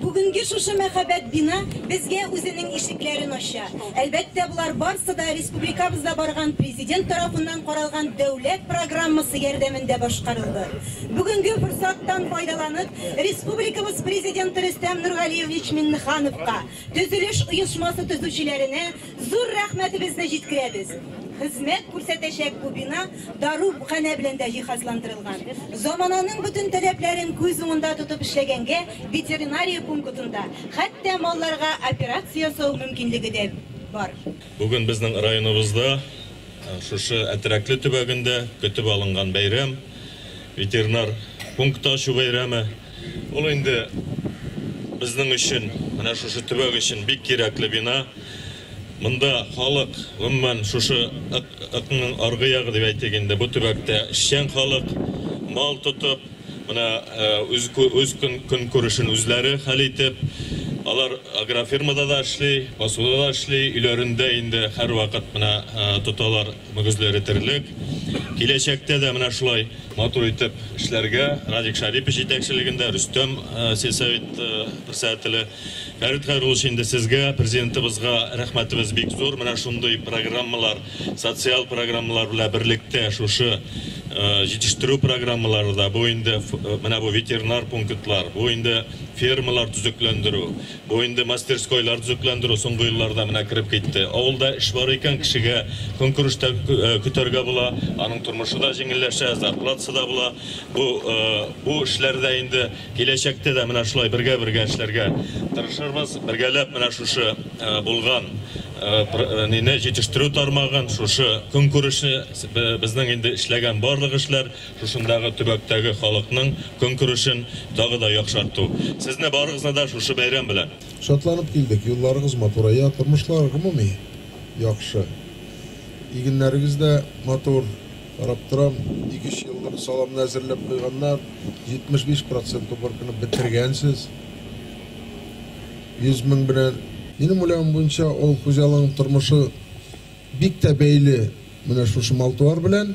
Бүгенге шушы мәһабәт бина безгә үзенең ишекләрен ача. Әлбәттә, болар барсы да республикабызда барган Президент тарафыннан каралган дәүләт программасы ярдәмендә башкарылды. Бүгенге форсаттан файдаланып, республикабыз Президенты Рөстәм Нургалиевич Миңнехановка, Төзелеш оешмасы төзүчеләренә зур рәхмәтебезне җиткерәбез. Хезмәт күрсәтәчәк бу бина даруханә белән дә җиһазландырылган. Замананың бөтен таләпләрен күз уңында тотып эшләгәнгә, ветеринария пункытында хәтта малларга операция ясау мөмкинлеге дә бар. Бүген безнең районыбызда, шушы Әтрәкле төбәгендә көтеп алынган бәйрәм, ветеринар пункты ачу бәйрәме. Ул инде безнең өчен, менә шушы төбәк өчен бик кирәкле бина. Монда халык, гомумән, шушы ыкның аргы ягы дип әйтик инде, бу төбәктә эшчән халык, мал тотып, менә үз үз көнкүрешен үзләре хәл итеп, алар агрофирмада да эшли, басуда да эшли, өйләрендә инде һәрвакыт менә тоталар. Мөгезләре терлек. Киләчәктә дә менә шулай матур итеп эшләргә, Радик Шарипов җитәкчелегендә, Рөстәм сельсовет председателе. Фәрит Хәйруллович, инде сезгә, Президентыбызга рәхмәтебез бик зур. Менә шундый программалар, социаль программалар белән берлектә шушы җитештерү программалары да, бу инде менә бу ветеринар пунктлар, бу инде фермалар төзекләндерү, Бу инде мастерскойлар төзекләндерү соңгы елларда менә кереп китте. Авылда эш бар икән, кешегә көнкүреш тә көтәргә була, аның тормышы да җиңелләшә, зарплатасы да була. Бу, бу эшләрдә инде киләчәктә дә менә шулай бергә-бергә эшләргә тырышырбыз. Бергәләп менә шушы булган нине, җитештерү тармагын, шушы көнкүрешне, безнең инде эшләгән барлык эшләр, тышындагы төбәктәге халыкның көнкүрешен тагы да яхшарту. Сезне барыгызны да шушы бәйрәм белән! Шатланып килдек, юлларыгыз матурая, тормышлар гомуми яхшы. Игеннәрегез дә матур, карап торам, ике-өч еллык саламны әзерләп куйганнар, 75 процент уборканы бетергәнсез, 100 мең белән. Минем уйлавым буенча, авыл хуҗалыгының тормышы бик тә бәйле менә шушы мал-туар белән.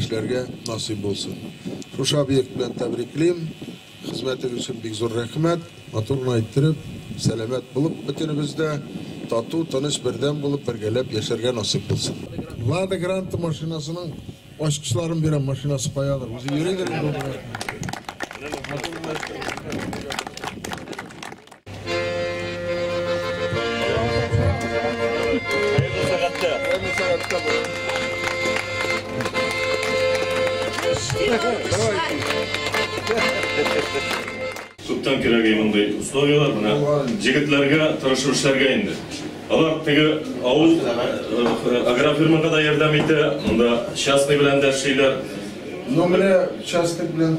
Эшләргә насыйп булсын. Шушы объект белән тәбриклим. Хезмәтегез өчен бик зур рәхмәт. Матур гына иттереп, сәламәт булып, бөтенебез дә тату, тыныч, бердәм булып, бергәләп яшәргә насыйп булсын. Лада Гранта машинасының ачкычларын бирәм, машинасы каядыр, үзе йөридер инде ул белән. Күптән кирәк иде мондый условияләр, менә җегетләргә тырышып эшләргә инде. Алар теге авыл агрофирмага да ярдәм итә, монда частный белән дә эшлиләр. Ну менә частный белән